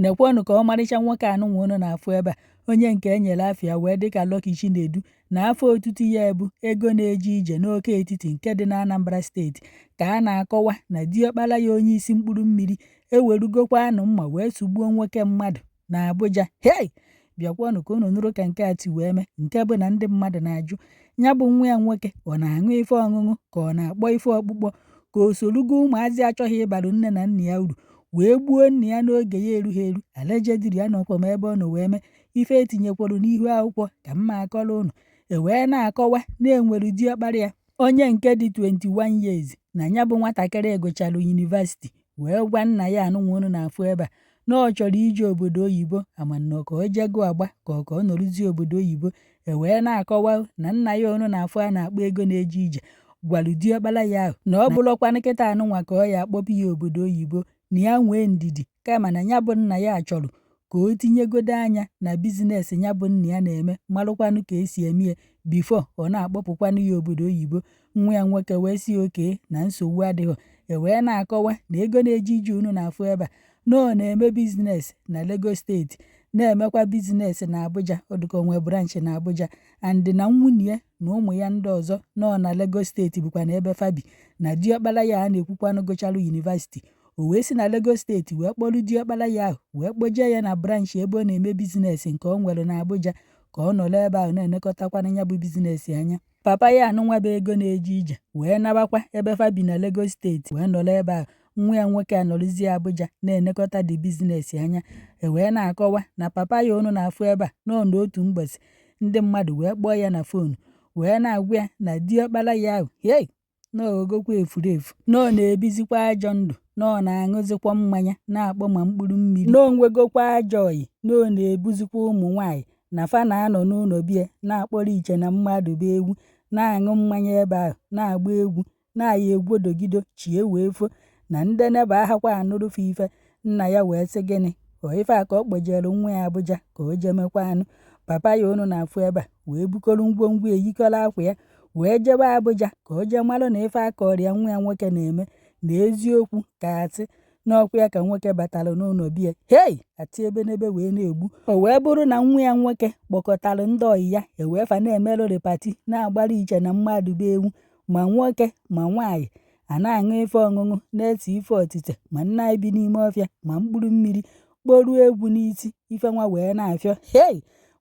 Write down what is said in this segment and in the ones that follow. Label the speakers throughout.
Speaker 1: Nekwenụ ka ọmarịcha nwoke anụnwa unu na-afụ ebe a, onye nke e nyere afa ya wee dị ka Lucky Chinedu na afa otutu ya bụ Ego na-eje ije n'Awka Etiti nke dị n'Anambra Steeti ka a na-akọwa na diọkpara ya onye isi mkpụrụ mmiri ewerugokwanụ mma wee sụgbuo nwoke mmadụ n'Abuja. Hei! bịakwanụ ka unu nụrụ ka nke a ti wee mee nke bụ na ndị mmadụ na-ajụ ya bụ nwa ya nwoke ọ na-aṅụ ife ọṅụṅụ ka ọ na-akpọ ife ọkpụkpọ ka o sorugo ụmụazị achọghị ịbara nne na nna ya uru wee gbuo nna ya n'oge ya erughị eru allegedly anọkwa m ebe ọ nọ wee mee ife e tinyekwara n'ihu akwụkwọ ka m na-akọrọ unu e wee na-akọwa na e nwere diọkpara ya onye nke dị 21 years na ya bụ nwatakịrị gụchara yunivasiti wee gwa nna ya anụnwa unu na-afụ ebe a na ọ chọrọ ije obodo oyibo amanọ ka o jego agba ka ọ ka ọ nọrụzie obodo oyibo e wee na-akọwa na nna ya unu na-afụ a na-akpọ Ego na-eje ije gwara diọkpara ya ahụ na ọ bụrọkwa kịta anụnwa ka ọ ya-akpọpụ ya obodo oyibo na ya nwee ndidi kama na ya bụ nna ya chọrọ ka o tinyegodo anya na bizines ya bụ nna ya na-eme marụkwanụ ka e si eme ya bifo ọ na-akpọpụkwanụ ya obodo oyibo nwa ya nwoke wee sị okay na nsogbu adịghị e wee na-akọwa na Ego na-eje ije unu na-afụ ebe a na ọ na-eme biznes na Lagos steeti na-emekwa biznes na Abuja ọ dụ ka o nwe branchị na Abuja and na nwunye ya na ụmụ ya ndị ọzọ nọ na Lagos steeti bụkwa na ebe fa bi na diọkpara ya a na-ekwukwanụ gụcharụ yunivasiti o wee si na Lagos steeti wee kpọrọ diọkpara ya ahụ wee kpọjee ya na branchị ebe ọ na-eme bizinesi nke ọ nwere n'Abuja ka ọ nọrọ ebe ahụ na-elekọtakwanụ ya bụ bizinesi anya. Papa ya anụnwa bụ Ego na-eje ije wee nabakwa ebe fa bi na Lagos steeti wee nọrọ ebe ahụ, nwa ya nwoke anọrọzie Abuja na-elekọta the bizinesi anya. E wee na-akọwa na papa ya unu na-afụ ebe a nọọ n'otu mbọsị ndị mmadụ wee kpọọ ya na foonu wee na-agwa ya na diọkpara ya ahụ hei na ọ ghọgokwa efurefu, na ọ na-ebizikwa ajọ ndụ, na ọ na-aṅụzikwa mmanya na-akpọ ma mkpụrụ mmiri, na o nwegokwa ajọ ọyị, na ọ na-ebuzikwa ụmụ nwaanyị na fa na-anọ n'ụlọ be ya na-akpọrọ iche na mmadụ bụ ewu, na-aṅụ mmanya ebe ahụ, na-agba egwu, na-ayị egwodogido, chi ewee fo, na ndị neighbour ahakwa anụrụ fa ife, nna ya wee sị gịnị ọ ife a ka ọ kpọjere nwa ya Abuja ka o jee mekwanụ papa ya unu na-afụ ebe a wee bukọrọ ngwongwo ya yikọrọ akwa ya wee jebe Abuja ka o jee mara na ife a kọrọ ya nwa ya nwoke na-eme na eziokwu ka asị n'ọkwa ya ka nwoke batara n'ụlọ be ya hei ati ebe n'ebe wee na-egbu o wee bụrụ na nwa ya nwoke kpọkọtara ndị ọyị ya ewee fa na-emerụrị pati na-agbara iche na mmadụ bụ ewu ma nwoke ma nwaanyị a na-aṅụ ife ọṅụṅụ na-ese ife otite ma nna anyị bi n'ime ọfịa ma mkpụrụ mmiri kporuo egwu n'isi ife nwa wee na-afịọ hei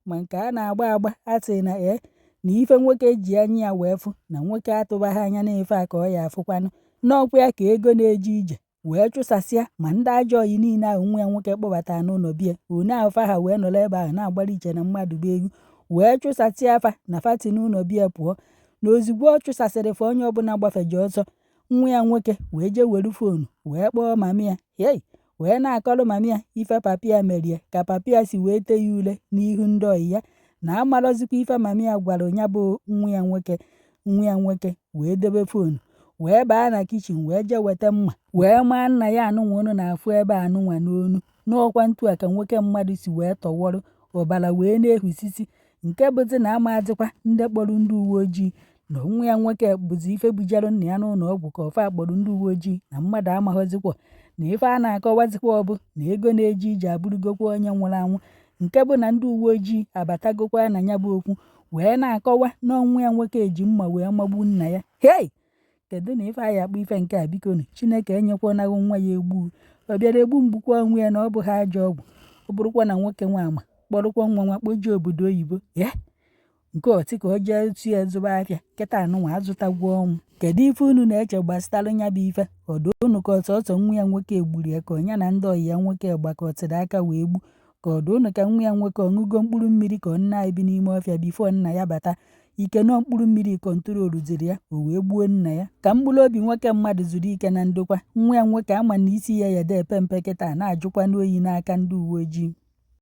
Speaker 1: ma nke a na-agba agba a sị na ee na ife nwoke ji anya ya wee fụ na nwoke atụbaghị anya na ife a ka ọ ya afụkwanụ na ọ kwa ya ka ego na-eje ije wee chụsasịa ma ndị ajọ ọyị niile ahụ nwa ya nwoke kpọbata n'ụlọ bie one afa ha wee nọrọ ebe ahụ na-agbara iche na mmadụ bụ egwu wee chụsasịa fa na fati n'ụlọ bie pụọ na ozugbo ọ chụsasịrị fa onye ọbụla gbafeje ọsọ nwa ya nwoke wee jee were foonu wee kpọọ mami ya hei wee na-akọrọ mami ya ife papi ya merie ka papi ya si wee tee ya ule n'ihu ndị ọyị ya na amarọzikwa ife mami ya gwara ya bụ nwa ya nwoke nwa ya nwoke wee debe foonu wee baa na kichin wee jee weta mma wee maa nna ya anụnwa unu na-afụ ebe anụnwa n'onu na ọ kwa ntu a ka nwoke mmadụ si wee tọwọrọ ọbara wee na-ehusisi nke bụzi na amazikwa ndị kpọrọ ndị uwe ojii na nwa ya nwoke bụzi ife bujere nna ya n'ụlọ ọgwụ ka ọ fa kpọrọ ndị uwe ojii na mmadụ amaghọzikwa na ife a na-akọwazikwa ọ bụ na ego na-eje ije abụrụgokwa onye nwụrụ anwụ nke bụ na ndị uwe ojii abatagokwa na ya bụ okwu wee na-akọwa na ọ nwa ya nwoke eji mma wee magbu nna ya hei kedu na ife anyị akpọ ife nke a bikonu chineke enyekwanahụ nwa ya egbu ọ bịara egbu m gbukwa onwe ya na ọ bụghị ajọ ọgwụ ọ bụrụkwa na nwoke nwa ama kpọrọkwa nwa nwa kpọjee obodo oyibo ya nke ọtị ka o jee tu ya zụba afịa kịta anụnwa azụtagwo ọnwụ kedu ife unu na-eche gbasara nya bụ ife ọ dụ unu ka ọ sọsọ nwa ya nwoke egburu ya ka ọ nya na ndị ọyị ya nwoke gbakọtara aka wee gbu ka ọ dụ unu ka nwa ya nwoke ọ ṅụgo mkpụrụ mmiri ka ọ nna anyị bi n'ime ọfịa bifo nna ya bata ike nọ mkpụrụ mmiri kọntroluziri ya o wee gbuo nna ya ka mkpụrụ obi nwoke mmadụ zuru ike na ndokwa nwa ya nwoke ama na isi ya ya dee epe mpe kịta na-ajụkwanụ oyi n'aka ndị uwe ojii